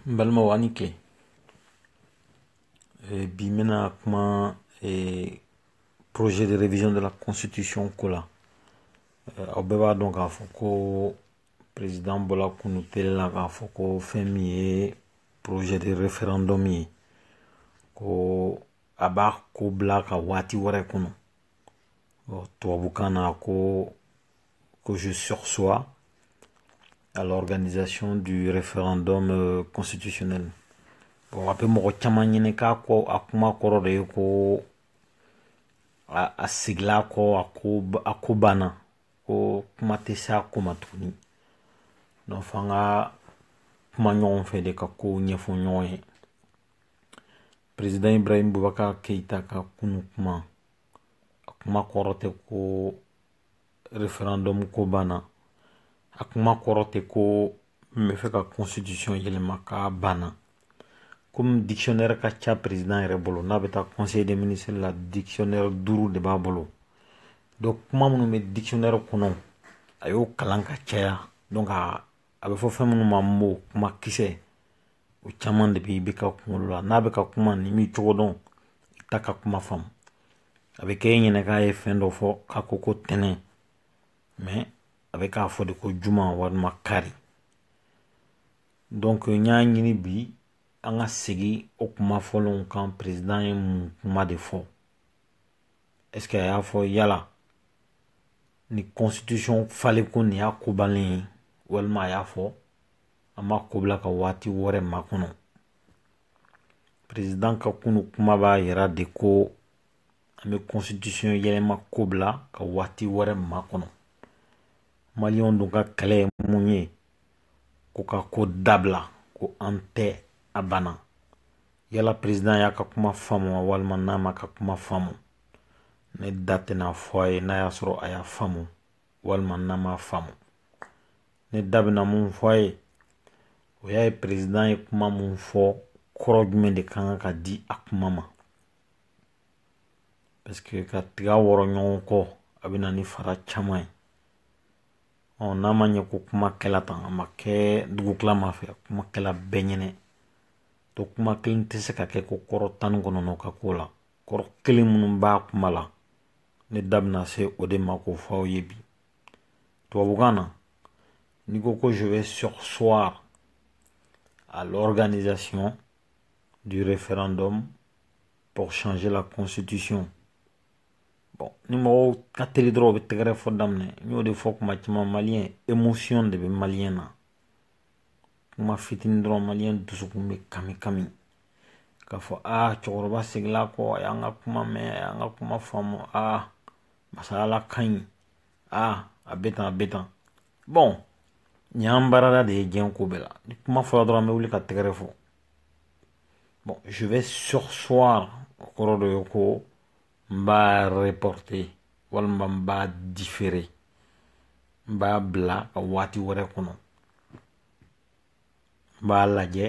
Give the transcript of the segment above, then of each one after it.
N balimaw aw ni tile bi n bɛna kuma projet de révision de la constitution ko la aw bɛɛ b'a dɔn k'a fɔ ko président bɔla kunu tele la k'a fɔ ko fɛn min ye projet de référendum ye ko a b'a ko bila ka waati wɛrɛ kɔnɔ tubabukan na ko ko je sursois à l'organisation du référendum euh, constitutionnel bon a bɛ mɔgɔ caman ɲɛna k'a ka kuma kɔrɔ de ye ko a seginna kɔ a ko a ko banna ko kuma tɛ se a ko ma tuguni donc fo an ka kuma ɲɔgɔn fɛ de ka kow ɲɛfɔ ɲɔgɔn ye perezidan Ibrahim Bubakar Keyita ka kunu kuma a kuma kɔrɔ tɛ ko référendum ko banna a kuma kɔrɔ tɛ ko n b'a fɛ ka constitution yɛlɛma k'a banna kɔmi dictionnaire ka ca perezidan yɛrɛ bolo n'a bɛ taa conseil des ministres la dictionnaire duuru de b'a bolo donc kuma minnu bɛ dictionnaire kɔnɔ a y'o kalan ka caya donc a bɛ fɔ fɛn minnu ma mot kuma kisɛ o caman de bɛ IBK kunkolo la n'a bɛ ka kuma n'i m'i cogo dɔn i t'a ka kuma faamu a bɛ kɛ e ɲɛna k'a ye fɛn dɔ fɔ k'a ko ko tɛnɛn mais a bɛ k'a fɔ de ko juma walima kari donc n y'a ɲini bi an ka segin o kuma fɔlɔw kan perezidan ye mun kuma de fɔ est-ce que a y'a fɔ yala ni constitution falenko nin y'a ko bannen ye walima a y'a fɔ an b'a ko bila ka waati wɛrɛ makɔnɔ perezidan ka kunu kuma b'a yira de ko an bɛ constitution yɛlɛma ko bila ka waati wɛrɛ makɔnɔ maliyɛnw dun ka kɛlɛ ye mun ye ko k'a ko dabila ko an tɛ a banna yala president y'a ka kuma faamu wa walima n'a m'a ka kuma faamu ne da tɛn'a fɔ a ye n'a y'a sɔrɔ a y'a faamu walima n'a ma faamu ne da bɛna min fɔ a ye o y'a ye president ye kuma min fɔ kɔrɔ jumɛn de ka kan ka di a kuma ma parce que ka tiga wɔrɔ ɲɔgɔn kɔ a bɛ na ni fara caman ye ɔ n'a ma ɲɛ ko kuma kɛla tan a ma kɛ dugutilama fɛ kuma kɛla bɛɛ ɲɛna to kuma kelen tɛ se ka kɛ ko kɔrɔ tan ni kɔnɔntɔn ka ko la kɔrɔ kelen minnu b'a kuma la ne da bɛna se o de ma k'o fɔ aw ye bi tubabukan na n'i ko ko je vais surseoir à l'organisation du référendum pour changer la constitution bon ni mɔgɔw ka teli dɔrɔn u bɛ tɛgɛrɛ fɔ daminɛ n y'o de fɔ kuma caman maliyɛn émotion de bɛ maliyɛn na kuma fitinin dɔrɔn maliyɛn dusukun bɛ kami kami k'a fɔ aa cɛkɔrɔba seginna kɔ a y'an ka kuma mɛn a y'an ka kuma faamu aa masayala ka ɲi aa a bɛ tan a bɛ tan bɔn nin y'an baarada de ye diɲɛ ko bɛɛ la ni kuma fɔra dɔrɔn an bɛ wuli ka tɛgɛrɛ fɔ bɔn je vais surseoir o kɔrɔ dɔ ye ko n b'a reporte walima n b'a difere n b'a bila ka waati wɛrɛ kɔnɔ n b'a lajɛ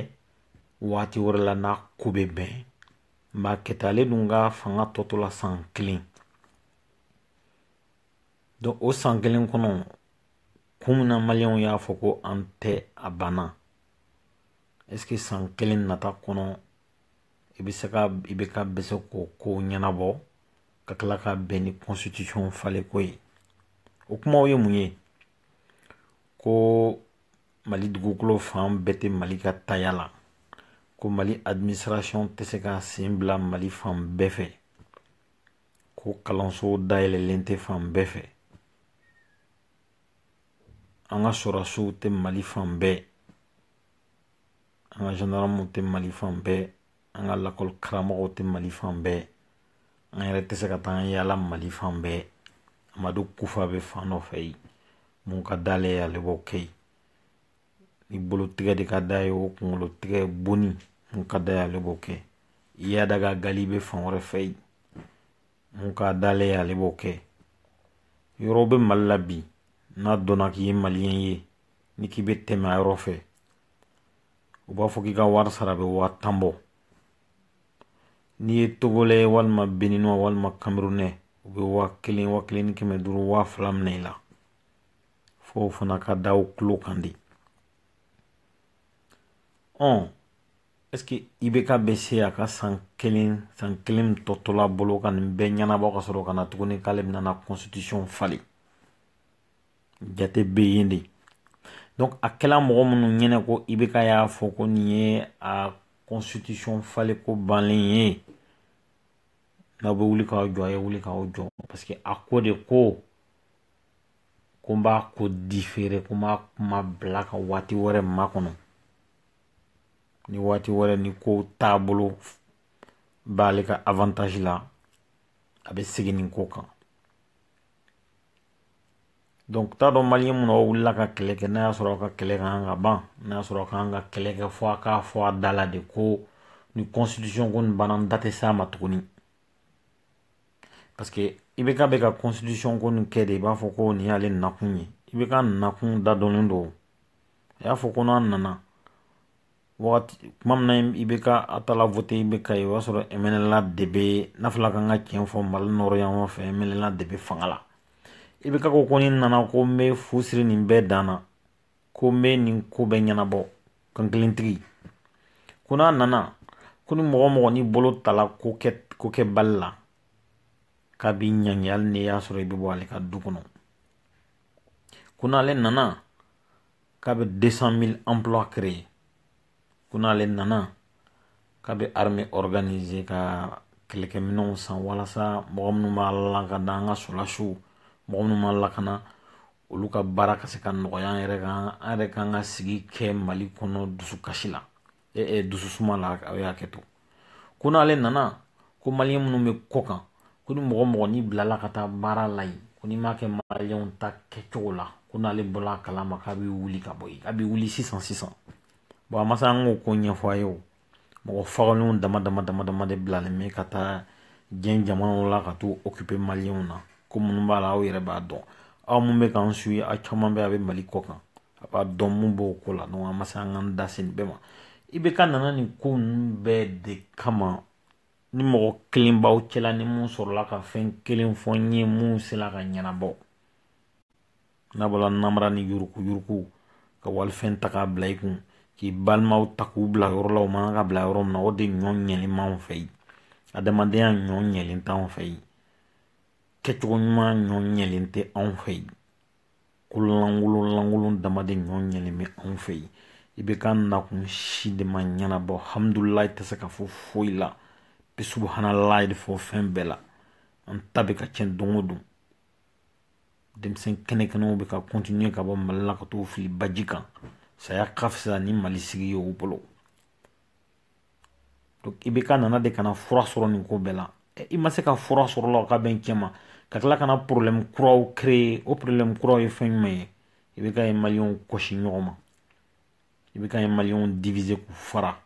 waati wɛrɛ la n'a ko bɛ bɛn n b'a kɛta ale dun ka fanga tɔ tola san kelen donc o san kelen kɔnɔ kun min na maliyɛnw y'a fɔ ko an tɛ a banna est ce que san kelen nata kɔnɔ i bɛ se ka ibk bɛ se k'o ko ɲɛnabɔ ka tila ka bɛn ni constitution falenko ye o kumaw ye mun ye ko mali dugukolo fan bɛɛ tɛ mali ka taya la ko mali administration tɛ se ka sen bila mali fan bɛɛ fɛ ko kalanso dayɛlɛlen tɛ fan bɛɛ fɛ an ka sɔrɔdasiw tɛ mali fan bɛɛ an ka zandaramuw tɛ mali fan bɛɛ an ka lakɔli karamɔgɔw tɛ mali fan bɛɛ an yɛrɛ tɛ se ka taa an yaala mali fan bɛɛ amadu kufa bɛ fan dɔ fɛ yen mun ka d'ale ye ale b'o kɛ yen ni bolotigɛ de ka d'a ye o kunkolo tigɛ bon ni mun ka d'a ye ale b'o kɛ iyad ag ghali bɛ fan wɛrɛ fɛ yen mun ka d'ale ye ale b'o kɛ yɔrɔw bɛ mali la bi n'a dɔnna k'i ye maliyɛn ye ni k'i bɛ tɛmɛ a yɔrɔ fɛ u b'a fɔ k'i ka wari sara bɛ waa tan bɔ n'i ye togolɛ walima beninwa walima kamerunɛ u bɛ waa kelen waa kelen ni kɛmɛ duuru waa fila minɛ i la fo o fana ka da aw tulo kan dɛ ɔn ɛseke ibk bɛ se a ka san kelen san kelen tɔ tola a bolo ka nin bɛɛ ɲɛnabɔ ka sɔrɔ ka na tuguni k'ale bɛna na constitution falen jate bɛ yen de donc a kɛla mɔgɔ minnu ɲɛna ko IBK y'a fɔ ko nin ye a constitution falen ko banlen ye n'aw bɛ wuli k'aw jɔ a ye wuli k'aw jɔ parce que a ko de ko ko n b'a ko différer ko n b'a kuma bila ka waati wɛrɛ makɔnɔ ni waati wɛrɛ nin ko taabolo b'ale ka avantage la a bɛ segin nin ko kan Donc t'a dɔn maliyɛn minnu wulila ka kɛlɛ kɛ n'a y'a sɔrɔ aw ka kɛlɛ ka kan ka ban n'a y'a sɔrɔ k'an ka kɛlɛ kɛ fɔ a k'a fɔ a da la de ko nin constitution ko nin banna n da tɛ s'a ma tuguni parce que IBK bɛ ka constitution ko nin kɛ de i b'a fɔ ko nin y'ale nakun ye IBK nakun da dɔnnen don a y'a fɔ ko n'a nana tuma min na IBK a taala voter IBK o y'a sɔrɔ MNLA de bɛ n'afila ka ka cɛn fɔ mali nord yan fɛ MNLA de bɛ fanga la IBK ko ko ni n nana ko n bɛ fu siri nin bɛɛ dan na ko n bɛ nin ko bɛɛ ɲɛnabɔ kankelentigi ko n'a nana ko ni mɔgɔ mɔgɔ n'i bolo taala ko kɛbali la k'a b'i ɲangi hali n'a y'a sɔrɔ i bɛ bɔ ale ka du kɔnɔ ko n'ale nana k'a bɛ deux cent mille emplois créer ko n'ale nana k'a bɛ armée organiser ka kɛlɛkɛminɛnw san walasa mɔgɔ minnu b'an lakanda an ka sɔrɔdasiw mɔgɔ minnu b'an lakana olu ka baara ka se ka nɔgɔya yɛrɛ kan an yɛrɛ k'an ka sigi kɛ mali kɔnɔ dusukasi la e, dususuma la a ye hakɛto ko n'ale nana ko maliyɛn minnu bɛ kɔkan ko ni mɔgɔ mɔgɔ n'i bilala ka taa baara la yen ko n'i m'a kɛ maliyɛnw ta kɛcogo la ko n'ale bɔla a kalama k'a bɛ wuli ka bɔ yen a bɛ wuli sisan sisan bon a ma se an k'o ko ɲɛfɔ aw ye o mɔgɔ fagalenw dama dama dama dama de bilalen bɛ ka taa diɲɛ jamanaw la ka t'u occuper maliyɛnw na ko minnu b'a la aw yɛrɛ b'a dɔn aw mun bɛ k'an suivre aw caman bɛ a bɛ mali kɔkan a b'a dɔn mun b'o ko la donc an ma se an ka da se nin bɛɛ ma IBK nana nin ko ninnu bɛɛ de kama ni mɔgɔ kelen b'aw cɛla ni mun sɔrɔla ka fɛn kelen fɔ n ye mun sela ka ɲɛnabɔ n'a bɔla namara ni yurukuyuruku ka walifɛn ta k'a bila i kun k'i balimaw ta k'u bila yɔrɔ la u man kan ka bila yɔrɔ min na o de ɲɔgɔn yelen b'anw fɛ yen adamadenya ɲɔgɔn yelen t'anw fɛ yen kɛcogo ɲuman ɲɔgɔn yelen tɛ anw fɛ yen ko lankolon lankolon dama de ɲɔgɔn yelen bɛ anw fɛ yen IBK nakun si de ma ɲɛnabɔ hamdulilayi tɛ se ka fɔ foyi la bi subuhanalayi de fɔ fɛn bɛɛ la an ta bɛ ka tiɲɛ don o don denmisɛn kɛnɛkɛnɛw bɛ ka continuer ka bɔ mali la ka t'u fili baji kan saya ka fisa ni mali sigi ye u bolo IBK nana de ka na fura sɔrɔ nin ko bɛɛ la i ma se ka fura sɔrɔ a la ka bɛn cɛ ma ka tila ka na problème kuraw créer o problème kuraw ye fɛn jumɛn ye IBK ye maliyɛnw gosi ɲɔgɔn ma IBK ye maliyɛnw diviser k'u fara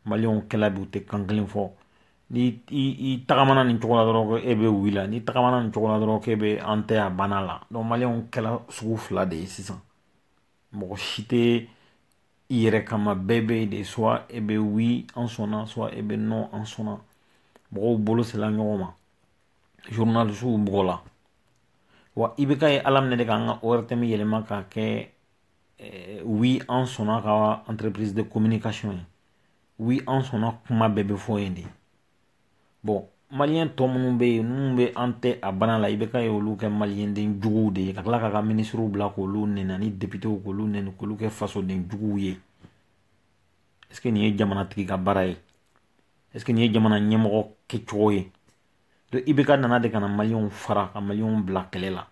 maliyɛnw kɛla bi u tɛ kan kelen fɔ ni i tagamana nin cogo la dɔrɔn e bɛ wi la ni tagamana nin cogo la dɔrɔn e bɛ an tɛ a banna la donc maliyɛnw kɛla sugu fila de ye sisan mɔgɔ si tɛ i yɛrɛ kama bɛɛ bɛ de soit e bɛ wi an sɔnna soit e bɛ non an sɔnna mɔgɔw bolo sela ɲɔgɔn ma journalisiw bugɔla wa IBK ye ala minɛ de k'an ka ORTM yɛlɛma k'a kɛ eh, wi an sɔnna ka entreprise de communication ye wi an sɔnna kuma bɛɛ bɛ fɔ yen de bɔn maliyɛn tɔ minnu bɛ yen minnu bɛ an tɛ a banna la IBK ye olu kɛ maliden juguw de ye ka tila k'a ka minisiriw bila k'olu nɛni ni depitew k'olu nɛni k'olu kɛ fasoden juguw ye est-ce que nin ye jamanatigi ka baara ye est-ce que nin ye jamana ɲɛmɔgɔ kɛcogo ye donc IBK nana de ka na maliyɛnw fara ka maliyɛnw bila kɛlɛ la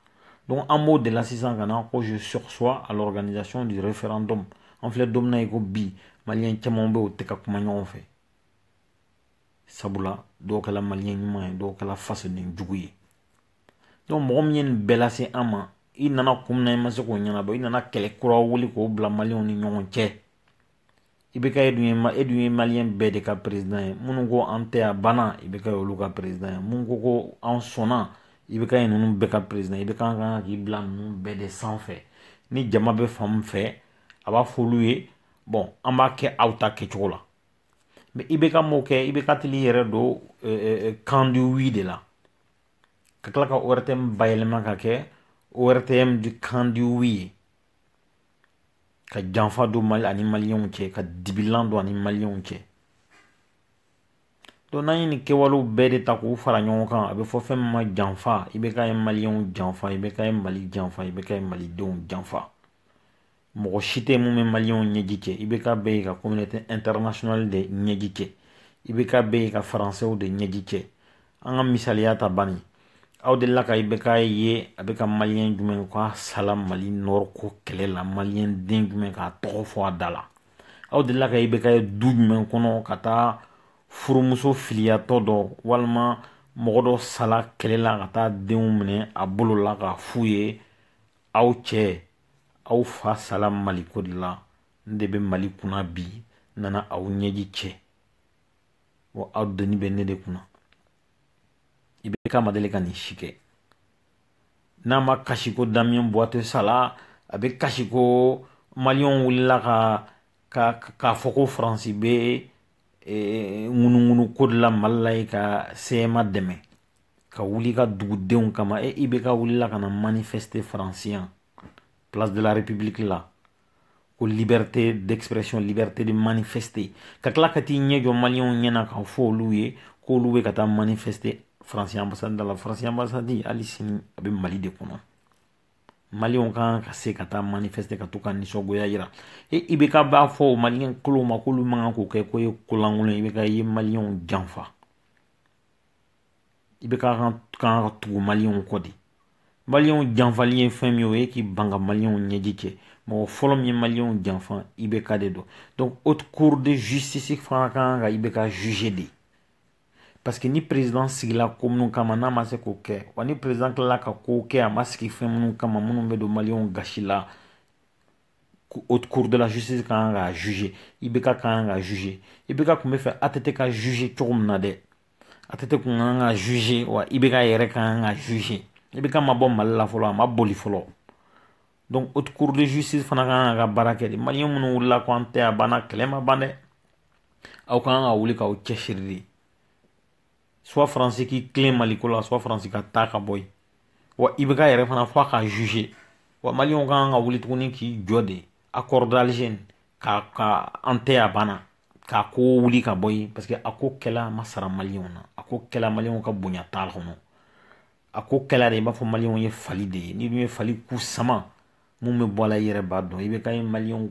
donc an b'o de la sisan ka na ko je sursois à l'organisation du référendum an filɛ don min na i ko bi maliyɛn caman bɛ yen u tɛ ka kuma ɲɔgɔn fɛ sabula dɔw kɛla maliyɛn ɲuman ye dɔw kɛla fasoden jugu ye donc mɔgɔ min ye nin bɛɛ lase an ma i nana kun min na i ma se k'o ɲɛnabɔ i nana kɛlɛ kura wuli k'o bila maliyɛnw ni ɲɔgɔn cɛ IBK e dun ye e dun ye maliyɛn bɛɛ de ka perezidan ye minnu ko an tɛ a banna IBK y'olu ka perezidan ye minnu ko ko an sɔnna IBK ye ninnu bɛɛ ka perezidan IBK ka kan k'i bila ninnu bɛɛ de sanfɛ ni jama bɛ fan min fɛ a b'a fɔ olu ye bɔn an b'a kɛ aw ta kɛcogo la mɛ IBK m'o kɛ IBK taala i yɛrɛ don camp du oui de la ka tila ka ORTM bayɛlɛma k'a kɛ ORTM du camp du oui ye ka janfa don mali ani maliyɛnw cɛ ka dibilan don ani maliyɛnw cɛ donc n'i ye nin kɛwale bɛɛ de ta k'u fara ɲɔgɔn kan a bɛ fɔ fɛn min ma janfa IBK ye maliyɛnw janfa IBK ye mali janfa IBK ye malidenw janfa mɔgɔ si tɛ min bɛ maliyɛnw ɲɛji cɛ IBK bɛ yen ka communauté internationale de ɲɛji cɛ IBK bɛ yen ka faransɛw de ɲɛji cɛ an ka misaliya ta ban aw delila ka IBK ye a bɛ ka maliyɛn jumɛn ka sala mali nord ko kɛlɛ la maliden jumɛn ka tɔgɔ fɔ a da la aw delila ka IBK ye du jumɛn kɔnɔ ka taa furumuso filiyatɔ dɔ walima mɔgɔ dɔ sala kɛlɛ la ka taa denw minɛ a bolo la k'a fɔ u ye aw cɛ aw fa sala maliko de la n de bɛ mali kunna bi n nana aw ɲɛji cɛ wa aw doni bɛ ne de kunna IBK ma deli ka nin si kɛ n'a ma kasi ko Damien Boiteux sala a bɛ kasi ko maliyɛnw wulila ka ka k'a fɔ ko faransi bɛ ŋunuŋunu ko de la mali la yen ka CMA dɛmɛ ka wuli ka dugudenw kama e IBK wulila ka na manifeste faransi yan place de la république la ko liberté d'expression liberté de manifester ka tila ka t'i ɲɛ jɔ maliyɛnw ɲɛna k'a fɔ olu ye k'olu bɛ ka taa manifeste faransi ambasadi da la faransi ambasadi hali sini a bɛ mali de kɔnɔ maliyɛnw kan ka se ka taa manifeste ka t'u ka nisɔngoya yira e IBK b'a fɔ o maliyɛn kolow ma k'olu man kan k'o kɛ ko ye kolankolon IBK ye maliyɛnw janfa IBK kan ka tugu maliyɛnw kɔ de maliyɛnw janfali ye fɛn min ye o ye k'i ban ka maliyɛnw ɲɛji cɛ mɔgɔ fɔlɔ min ye maliyɛnw janfa IBK de don donc haute cour de justice fana ka kan ka IBK juge de parce que ni président sigila ko minnu kama n'a ma se k'o kɛ wa ni président tilala ka kow kɛ a ma sigi fɛn minnu kama minnu bɛ don maliyɛnw gasi la haute cour de la justice ka kan k'a juger IBK kan ka juger IBK tun b'a fɛ ATT ka juger cogo min na dɛ ATT tun ka kan ka juger wa IBK yɛrɛ ka kan ka juger IBK ma bɔ Mali la fɔlɔ a ma boli fɔlɔ donc haute cour de justice fana ka kan ka baara kɛ de maliyɛn minnu wulila ko an tɛ a banna kɛlɛ ma ban dɛ aw ka kan ka wuli k'aw cɛsiri de soit faransi k'i tilen maliko la soit faransi ka taa ka bɔ yen wa IBK yɛrɛ fana fɔ a ka juge wa maliyɛnw ka kan ka wuli tuguni k'i jɔ de accord d'alger nin ka ka an tɛ a banna k'a ko wuli ka bɔ yen parce que a ko kɛla ma sara maliyɛnw na a ko kɛla maliyɛnw ka bonya t'a kɔnɔ a ko kɛla de i b'a fɔ maliyɛnw ye fali de ye n'i dun ye fali ku sama mun bɛ bɔ a la i yɛrɛ b'a dɔn IBK ye maliyɛnw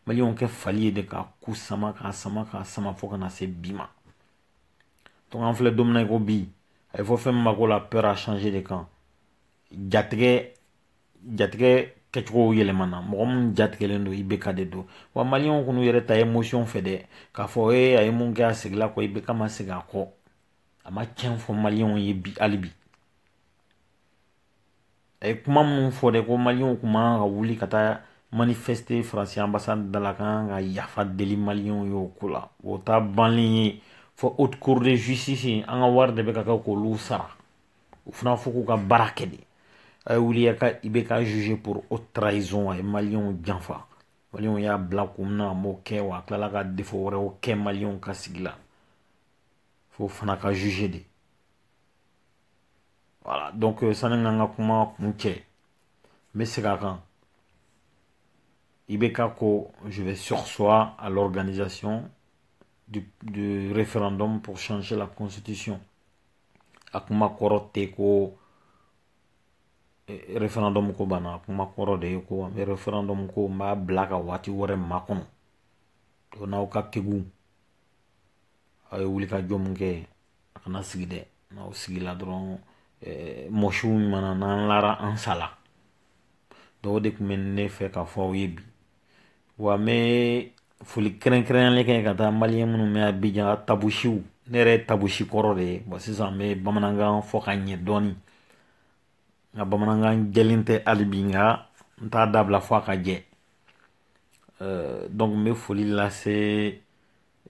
maliyɛnw kɛ fali ye de k'a ku sama k'a sama k'a sama fo ka na se bi ma an filɛ don min na i ko bi a ye fɔ fɛn min ma ko la peur a changé de camp jatigɛ jatigɛ kɛcogo yɛlɛmana mɔgɔ min jatigɛlen don IBK de don wa maliyɛnw kan'u yɛrɛ ta émotion fɛ dɛ k'a fɔ e a ye mun kɛ a seginna kɔ IBK ma segin a kɔ a ma cɛn fɔ maliyɛnw ye bi hali bi a ye kuma minnu fɔ de ko maliyɛnw tun man kan ka wuli ka taa manifeste faransi anbasadi da la ka kan ka yafa deli maliyɛnw ye o ko la o ta banlen ye fo haute cour de justice an ka wari de bɛ ka kɛ k'olu sara u fana fo k'u ka baara kɛ de a ye wuli ka IBK juge pour haute trahison a ye maliyɛnw janfa maliyɛnw y'a bila kun min na a m'o kɛ wa a tilala ka defo wɛrɛw kɛ maliyɛnw ka sigi la f'o fana ka juge de voilà donc euh, sani ka n ka kuma kuncɛ n bɛ segin a kan i bɛ ka ko je vais surseoir à l'organisation du, du référendum pour changer la constitution a kuma kɔrɔ tɛ ko eh, référendum ko banna a kuma kɔrɔ de ye ko an bɛ référendum ko n b'a bila ka waati wɛrɛ makɔnɔ to n'aw ka kegun aw ye wuli ka jɔ mun kɛ a kana sigi dɛ n'aw sigila dɔrɔn mɔsiw mana n'an lara an sala o de tun bɛ ne fɛ ka fɔ aw ye bi wa n bɛ foli kɛrɛnkɛrɛnyalen kɛ ka taa maliens minnu bɛ Abidjan tabusiw ne yɛrɛ ye tabusi kɔrɔ de ye bon sisan n bɛ bamanankan fɔ ka ɲɛ dɔɔnin nka bamanankan jɛlen tɛ hali bi nka n t'a dabila fɔ a ka jɛ donc n bɛ foli lase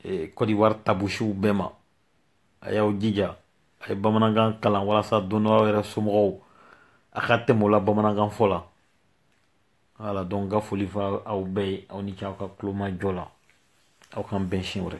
eh, Côte d'Ivoire tabusiw bɛɛ ma a y'aw jija a ye bamanankan kalan walasa don dɔ aw yɛrɛ somɔgɔw a ka tɛmɛ o la bamanankan fɔ la voilà donc ka foli fɔ aw bɛɛ ye aw ni ce aw ka tulomajɔ la aw k'an bɛn siɲɛ wɛrɛ